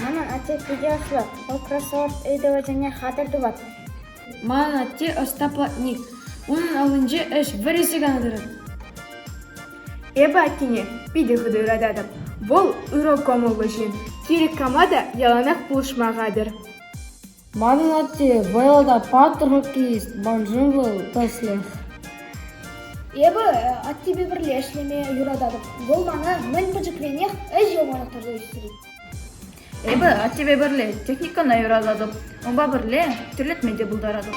Манӑн атте питӗ ӑслӑ, вӑл кроссовок ыйтӑвӗсене хатӗр тӑвать. Манӑн атте ӑста платник. Унӑн аллинче ӗҫ вӗр ӗҫе кана тӑрать. Эпӗ аттене питӗ хытӑ ырататӑп. Вӑл ырӑ кӑмӑллӑ ҫын. Кирек кама та яланах пулӑшма хатӗр. Манӑн атте вӑйлӑ та паттӑр хоккеист, ман шыв вӑл тӗслӗх. Эпӗ аттепе пӗрле ӗҫлеме юрататӑп. Вӑл мана мӗн пӗчӗкренех ӗҫ йӑлманах тӑрса ӳстерет. Эпӗ аттепе пӗрле техникӑна юрататӑп, унпа пӗрле тӳрлетме те пултаратӑп.